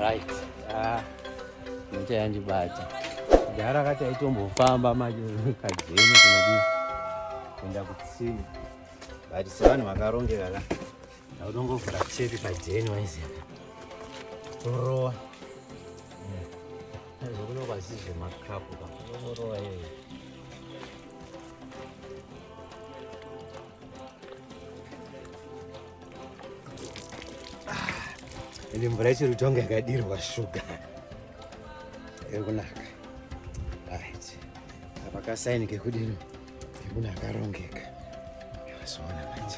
right ah nje yanji bata gara kati aitombo famba maje kajeni kunodi kuenda kutsini but sevanhu vakarongeka ka ndautongovhura chete kajeni waiziva torowa zvokunokwazizve makapu ka torowa yeye Ini ah, mvura ichiri kutonga yakadirwa shuga iri kunaka right apa kasaini kekudini kekuna akarongeka azoona manje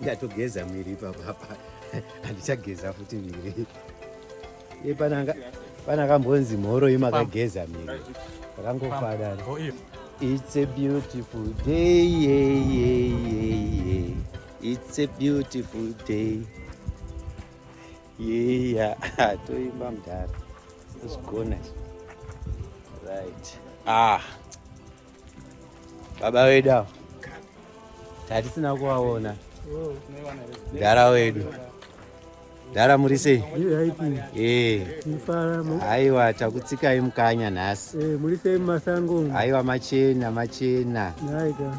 ndatogeza mwiri ipapo apa handichageza futi mwiri pana kambonzi mhoroi makageza mwiri akangofadari it's a beautiful day yeah, yeah, yeah, yeah. it's a beautiful day yeya yeah. toimba mdhara zvinozigona right ah Baba wedu avo tatisina kuvaona mdara wedu mdara muri sei aiwa takutsikai mukanya nhasi aiwa machena machena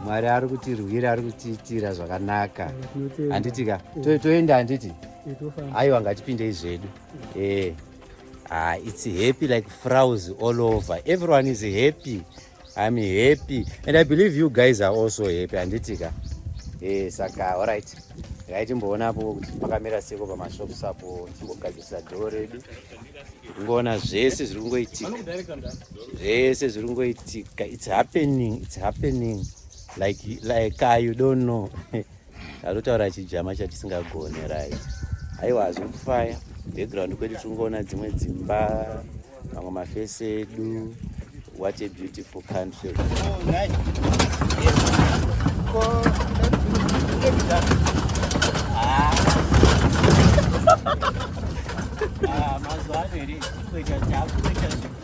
mwari ari kutirwira ari kutiitira zvakanaka handitika toenda handiti aiwa ngatipindei zvedu ee Ah, it's happy like frows all over. Everyone is happy. I'm happy. And I believe you guys are also happy. Anditika. Eh, saka, all right. Right, mboona apo kuti pakamira seko pamashops apo timbogadzirisa dhoo redu. Ngoona zvese zviri kungoitika. Zvese zviri kungoitika. It's happening. It's happening. Like like uh, you don't know. Arutaura chijama chatisingagone right. Aiwa hazvikufaya. Background kwedu tingoona dzimwe dzimba, mamwe mafesi edu. What a beautiful country. Oh, nice. Ah, mas olha, ele foi já, já, foi já.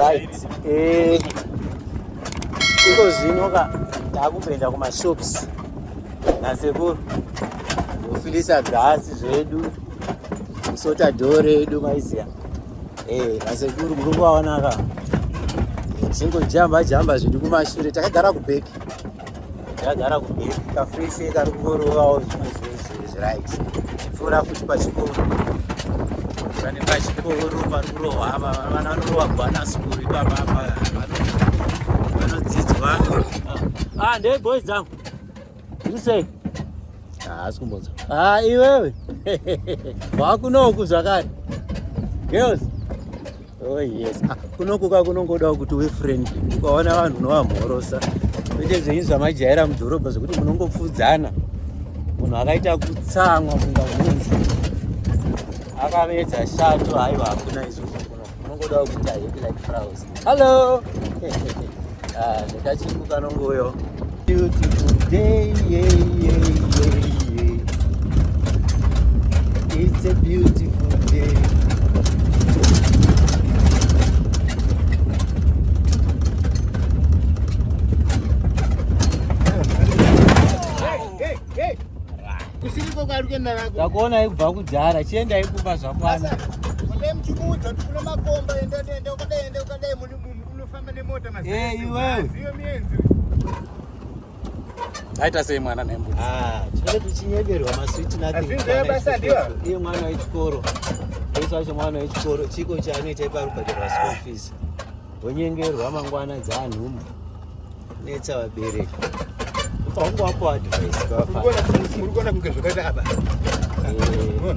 right eh iko zvino ka takupenda kumashops nasekuru kufilisa gasi zvedu kusota dhore edu maiziya eh nasekuru muri kuvaona ka zvingojamba jamba zvidi kumashure takagara kubheki ndagara kumberi kafreshi kari kungorovawo zvimwe zvinhu zviright chipfuura futi pachikoro pane pachikoro pari kurohwa apa vana vanorova kwana sukuru ipapa apa vanodzidzwa ah ndee boys dzangu usei haasi ah, kumbonza ha ah, iwewe waakunoku zvakare girls Oh yes. Ah, kunokuka kunongodawo kuti we friend ukaona vanhu unovamhorosa kwete zvenyu zvamajaira mudhorobha zvekuti munongopfudzana munhu akaita kutsamwa kunga munzi akamedza shato haiwa hakuna izvozvo kuno munongodawo kuti ahepi like fraus hallo Ah, nekachimbu kanongouyo beautiful day yeah, yeah, yeah, yeah. it's a beautiful day takuona ikubva kudhara chienda ikupa zvakwana Unofamba nemota mazai. Eh, iwewe. Ziyo mienzi. Aita sei mwana nembo. Ah, tinenge tichinyeberwa maswiti nothing. Azvinzwe basa ndiwo. Iye mwana wechikoro. Yesu wacho mwana wechikoro chiko chaanoita ipa rubhadhara school fees. Wonyengerwa mangwana dzaanhu. netsa vabereki ufange wapo advice kwafaurikuona kunge zvakaita apa eh,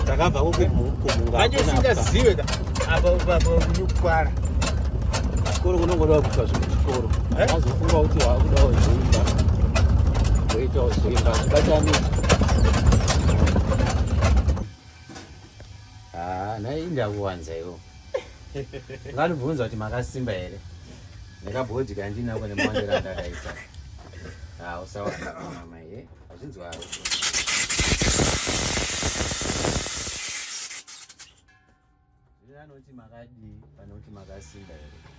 takabva kokumungaaanje usingazive ka apa apa kunyukwara chikoro kunongoda kuitwa zvinhu chikoro eh? azofunga kuti waakuda wazoimba woita wazoimba zvibatanisa ah, nai ndakuwanza iwo Nganibvunza kuti makasimba here? Nekabhodhi kandinako nemawandira andakaisa. Ah, usawa mama ye. Azvinzwa haro. Zvinoti makadii panoti makasimba here?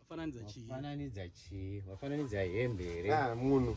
Wafananidza chii? Wafananidza chii? Wafananidza hembe here? Ah, munhu.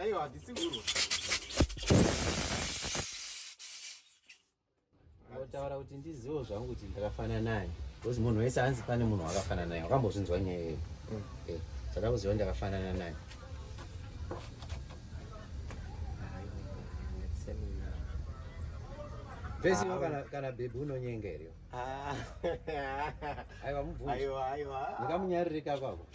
Aiwa, hatisi kurwa. Unotaura kuti ndiziwo zvangu kuti ndakafanana naye. Because munhu wese anzi pane munhu wakafanana naye. Wakambozvinzwa nyaya iyoyo. Mm. Eh, saka kuziwa ndakafanana naye. Vese ah. kana kana bebu unonyenga here? Ah. Aiwa mubvunzo. Aiwa aiwa. Ndakamunyaririka kwako.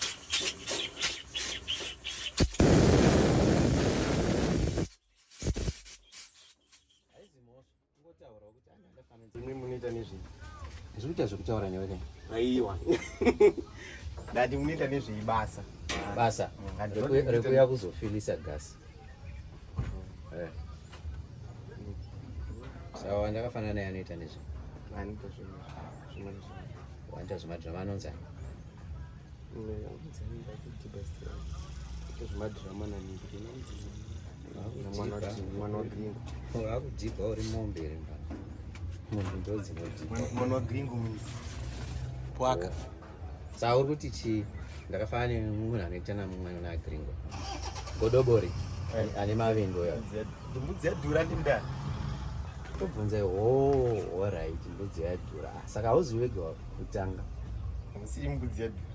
imwe munoita nezvei ndiri kuita zvekutaura newe kai aiwa ndati munoita nezvei basa basa mm, rekuuya kuzofilisa gasi Eh. Sawa ndakafanana naye anoita nezve. Anoita zvinhu zvimweni zvinhu. Wanda zvimadhirama anonzi. Zvimadhirama nani. Wakudhibha uri mombe ere mbana. Munhu ndodzinodhibha. Mwana wa gringo mwana wa gringo. Pwaka. Saka uri kuti chii? Ndakafanana nemunhu anoita namwana na gringo. Godobori eh. ane mavingo ya. Mbudzi yadhura ndi ndani? Tobvunza oh, all right, mbudzi yadhura. Saka hauzi wega kutanga. Hausi mbudzi yadhura.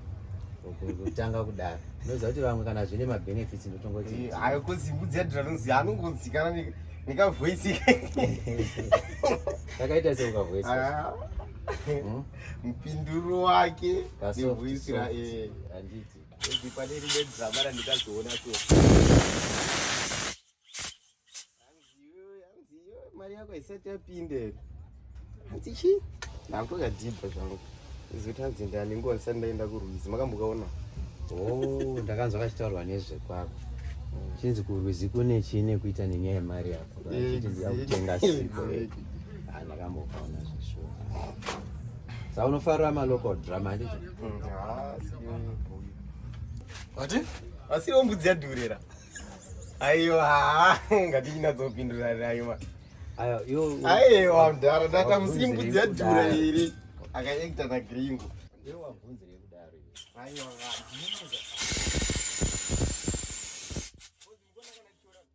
kutanga kudaro unoziva kuti vamwe kana zvine mabenefits ndotongoti eh, hayo kozi mbudzi yadhura nozi anongonzikana nekavoisi kakaita seukavoisi mupinduro wake nehuisira eh. handiti ezi pane rimwe drama randikazoona so mari yako haisati yapinde hanzi chi ndakutokadhibha zvangu izoti hanzi ndani nguva ndisati ndaenda kurwizi makambokaona oh, ndakanzwa kachitaurwa nezvekwako chinzi kurwizi kune chii nekuita nenyaya yemari yako eh, achiti ndiyakutenga siko ndakambokaona zvishuwa sa unofarira malocal drama handicho wati asiri ombudzi yadhurira aiwa ngatinyinatsopinduraraiwa aiwa mdhara data musiri mbudzi yadhura iri akaekta nagringo aiwa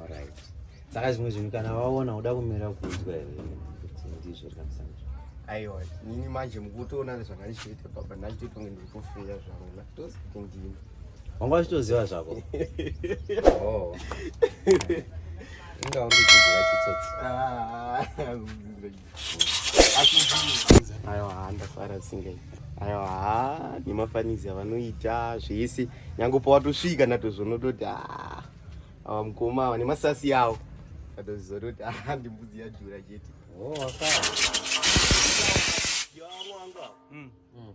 Alright. Saka zvimwe zvinhu kana waona uda kumira kuudzwa here kuti ndizvo rikamusanzvo. Aiwa, nini manje mukutoona zvakandishoita baba ndachito kunge ndiri kufeya zvangu ndatozi kuti ndini. Wanga wachitoziva zvako. Oh. Inga uri kudzidzira chitsotsi. Ah, kudzidzira chitsotsi. ayo haa ndafara singai ayo haa nemafanizi avanoita zvese nyange pawatosvika natozvonototi haa awa mukoma awa nemasasi awo atozizototi haa ndimbudzi yadhura chete oh, hmm. Hmm.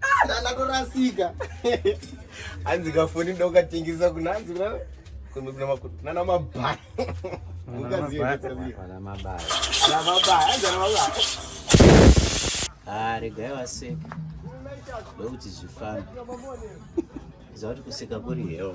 Ah, ndatorasika hanzi kafoni ndokatengesa kunanzi kumbe kuna makuti nana mabaya ah, regai vaseka ndokuti zvifambi zava kuti kuseka kuri heo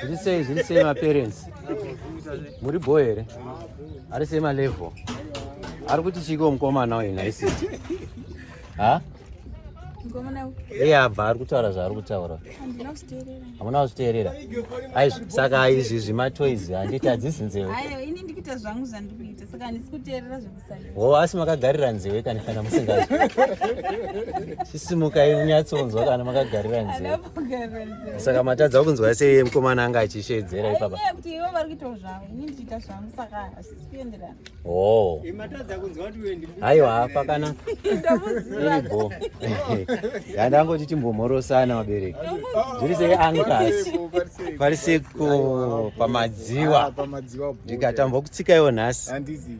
Zviri sei zviri sei maparents? Muri bho here? Ari sei malevel? Ari kuti chiko mukomana uyu naisi? Ha? Iye abva ari kutaura zvaari kutaura. Hamuna kuzviteerera. Aizvi saka izvi zvimatoizi handiti hadzizi nzeve. Ayo ini ndikuita zvangu zvandikuita saka handisi kuteerera wo asi makagarira nziwe kani kana musinga chisimuka inyatsonzwa kana makagarira nziwe saka matadza kunzwa sei mukomana anga achishedzera ipapa oh. aiwa pakana iribo yandangoti timbomhorosana vabereki zviri sei ankas pari seko pamadziwa ah, ndikatambwa kutsikaiwo nhasi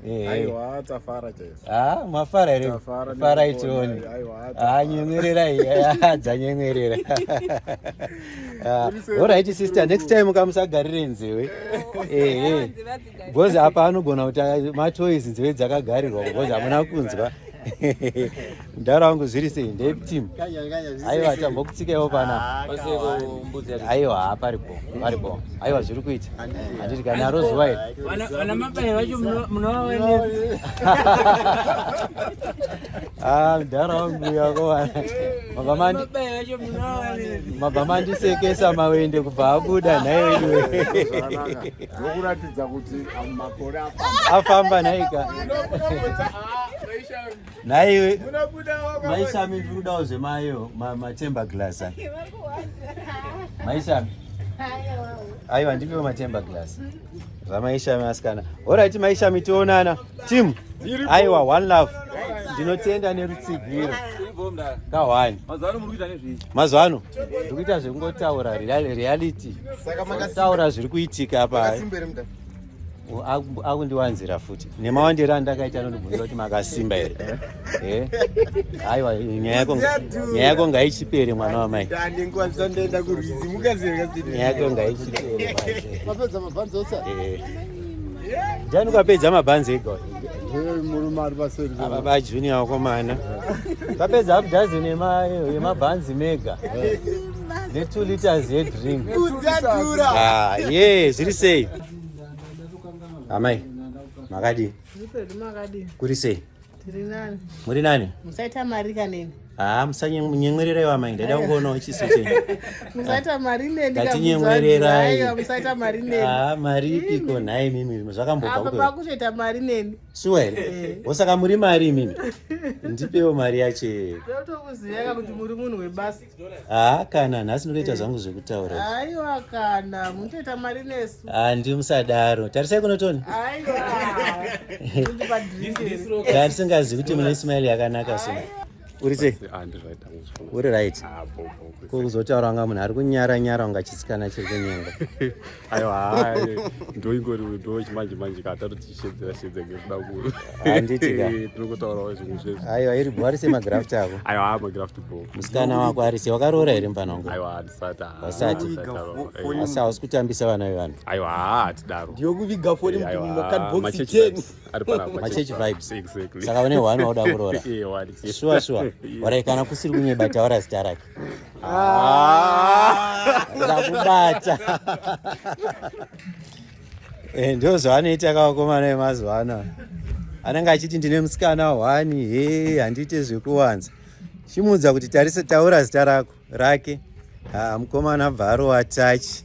Eh, aiwa tafara chaiso ah mafara here fara itione ah nyemwerera iya dzanyemwerera alright sister next time kamusagarire nzewe ehe because apa anogona kuti matoys nzeve dzakagarirwa because hamuna kunzwa mdara wangu zviri sei ndetim aiwa tambokutsikaiwo pana aiwa haparipo paripo aiwa zviri kuita handiti kana aro zuva iri ah, mdara wangu yakowana mabva mandisekesa mawende kubva abuda nhai weduweafamba nhaika Naiwe maishami ndiri kudawo zvemayo matemba glass a maishami aiwa ndipiwo matemba glass zvamaishami asikana orit maishami tionana tim aiwa one love ndinotenda nerutsigiro kahwani mazuva ano ndiri kuita zvekungotaura reality taura zviri kuitika apa akundiwanzira futi nemawandiro andakaita anondibvunza kuti makasimba here eh? aiwa nyaya yako ngaichipere mwana wamai nyaya yako ngaichipere jani ukapedza mabhanzi ega ava bajunior wakomana vapedza half dozen yemabhanzi mega ne two liters yedrink ah, ye zviri sei Amai, makadi? Kuri sei? Muri nani? Musaita mari kanini? Haa, ah, musanyenyererewo amai, ndaida kungoona chiso chenyu. Musaita mari neni kamuzaai, musaita mari neni. Haa, ah, mari ipiko nhai mimi, zvakambobva kuto. Apa pakutoita mari neni. Sure here? Eh. Osaka muri mari mimi. Ndipewo mari yacho. Ndotokuziva kuti muri munhu webasa. haa kana nhasi ndotoita zvangu zvekutaura aiwa kana munotoita mari nesu handi musadaro tarisai kunotoni aiwaandisingazi kuti mune ismail yakanaka so uri sei ah, uri right ah, kuzotaura wanga munhu ari kunyara nyara unga chisikana chiri kunyenga aiwa ndoingori ndo chimanje manje ka tatotishedzera shedza ngekuda kuru handitika eh, tinokotaurawo zvinhu zvese aiwa iri bho arise magraft ako aiwa haa magraft bho musikana wako arise wakaroora here mfana wangu aiwa handisati hasati asi hausi kutambisa vana vevanhu aiwa haa hatidaro ndiyokuviga foni eh, mukadbox ten machechi vibes saka une one wauda kuroora shuwa shuwa warai kana kusiri kunyeba taura zita rake Ah. ndakubata eh, ndo zvaanoita kavakomana vemazuva ano anenge achiti ndine musikana hwani he handiite zvekuwanza chimuudza kuti tarise taura zita rako rake ah, mukomana bva arowa tachi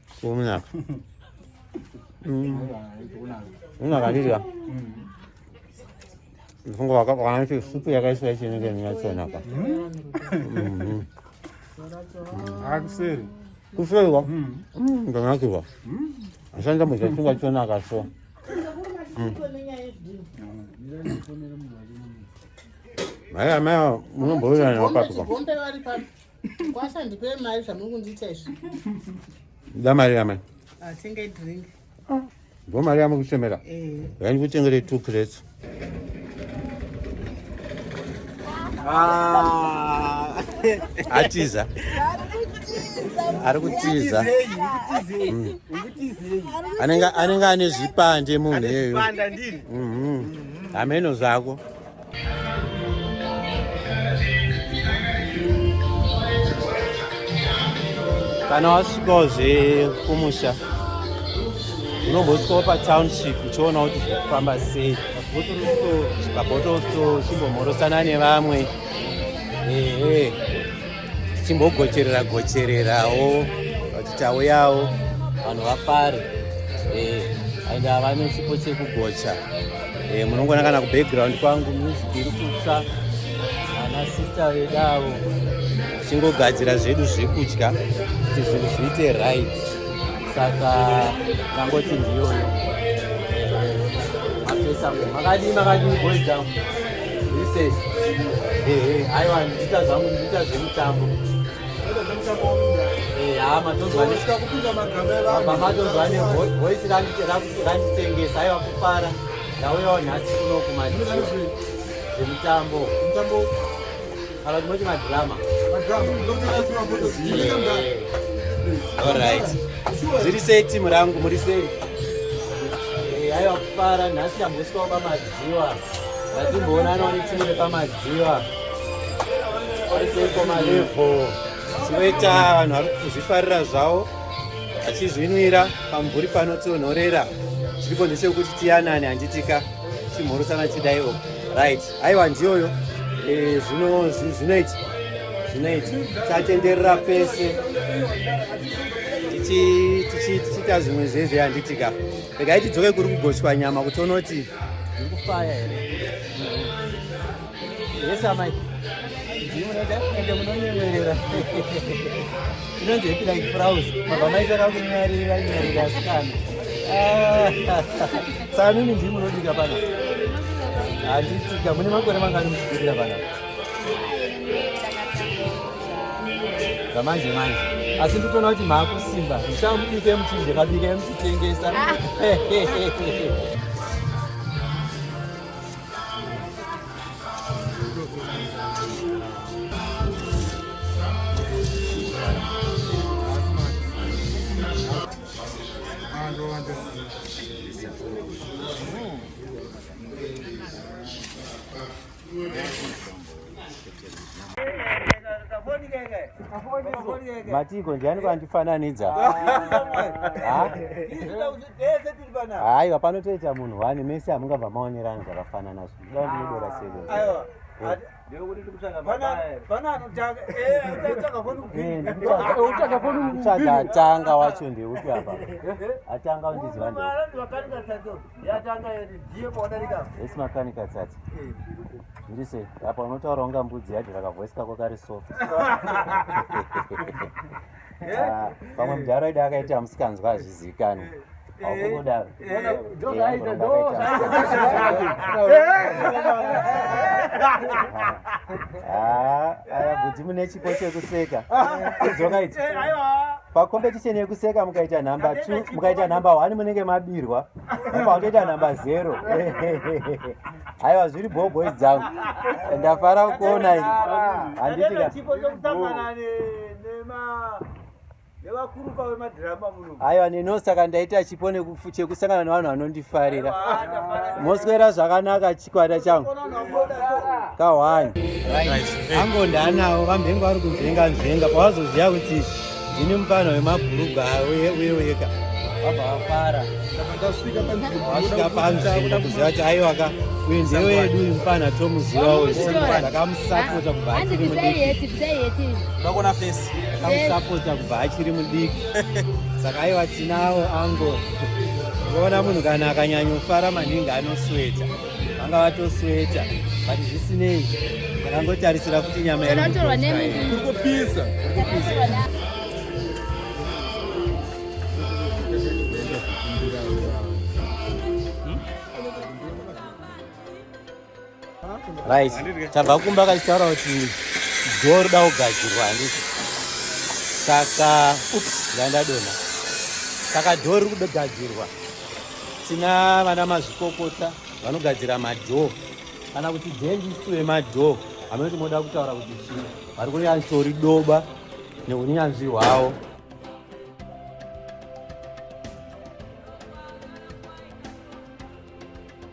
Kumunaka. Unakadidya. Mfungo waka kana kuti supu yakaiswa ichi nenge nyachona ka. Akuseri. Kuseri wa. Ndanakirwa. Ashanda mu chakungwa chona ka so. Maya maya munomboyana wakatuka. Kwasha ndipe mari zvamuri kundiita izvi. Da mari yamai. Atenga ah, drink. Ah, ndo mari yamuri kuchemera. Eh. Yaani kutengere two crates. Ah. Atiza. ari kutiza mm. anenge ane zvipande munhu iyeyo hameno zvako kana wasvikawo zvekumusha unombosvikawo patownship uchiona kuti zvekufamba sei pabottle store chimbomhorosana nevamwe ehe tichimbogocherera gochererawo kuti tauyawo vanhu vafare eh, and havane chipo chekugocha eh, munongona kana kubackground kwangu music iri kutsva ana sista vedu avo tichingogadzira zvedu zvekudya kuti zvinhu zviite right saka tangoti ndiyoyo eh, mapesa makadii makadii boys down aiwa ndiita zvangu ndiita zvemutambo hama tozwanematonzwa nevoisi randitengesa aiwa kufara ndauyawo nhasi kuno kumaemutambo kana tinoti madrama allright zviri sei timu rangu muri sei aiwa kufara nhasi ndambosikawo pamati Dziwa. Ndatimboonana nechimwe nepamadziwa. Ariseiko malevo. Chinoita vanhu vari kuzvifarira zvavo achizvinwira pamvuri panotonhorera chiripo ndechekuti tiyanane handitika chimhorosana chidaiwo right aiwa ndiyoyo eh, zvino zvinoita zvinoita tatenderera pese tichiita zvimwe zvezve handitika regai tidzoke kuri kugochwa nyama kuti unoti iri kufaya here yes amai ende munonyemerera inonzi hepi like fraus mabva maitaka kunyarira nyarira asikana saka mimi ndii munodika pana handitika mune makore mangani muchigurira pana zvamanje manje asi nditoona kuti maakusimba ndichamubike muchinje kabike muchitengesa Thank you. matiko ndiani kwandifananidza haiwa panotoita munhu wani mese hamungabva maonerani zvakafanana zvoda ndinodora seko uchagatanga wacho ndeupi apa atanga undiziva yatanga yati ndiye pawadarika esi makanika tsatsi zviri sei apa unotaura unga mbudzi yacho rakavoisi kako kari so ah, pamwe mudhara idi akaita musikanzwa hazvizivikanwi akungodaro aya bvudzi mune chipo chekuseka kudzoka idzi pacompetition yekuseka mukaita number t mukaita number one munenge mabirwa pakutoita number zero aiwa zviri bho boys dzangu ndafara kuona i aiwa neno saka ndaita chipo chekusangana nevanhu vanondifarira moswera zvakanaka chikwata changu kahwani ango ndaanawo vamhengo vari kunzvenga nzvenga pawazoziva kuti ndini mupana wemabhurugwa uye weka vabva vafara wasvika panzi kuda kuziva kuti aiwa ka uyu ndiye wedu uyu mupana tomuziva uyu ndakamusapota kubva achiri mudiki ndakamusapota kubva achiri mudiki saka aiwa tinawo ango ukaona munhu kana akanyanyofara maningi anosweta vanga vatosweta but zvisinei akangotarisira kuti nyama yakurikupisa right tabva kumba kachitaura kuti dhoo roda kugadzirwa handiti saka ups ndandadona saka dhoo riri kudogadzirwa tina vana mazvikokota vanogadzira madhoo kana kuti dhendistu vemadhoo hamunoti moda kutaura kuti chii vari kunyatsori doba neunyanzvi hwavo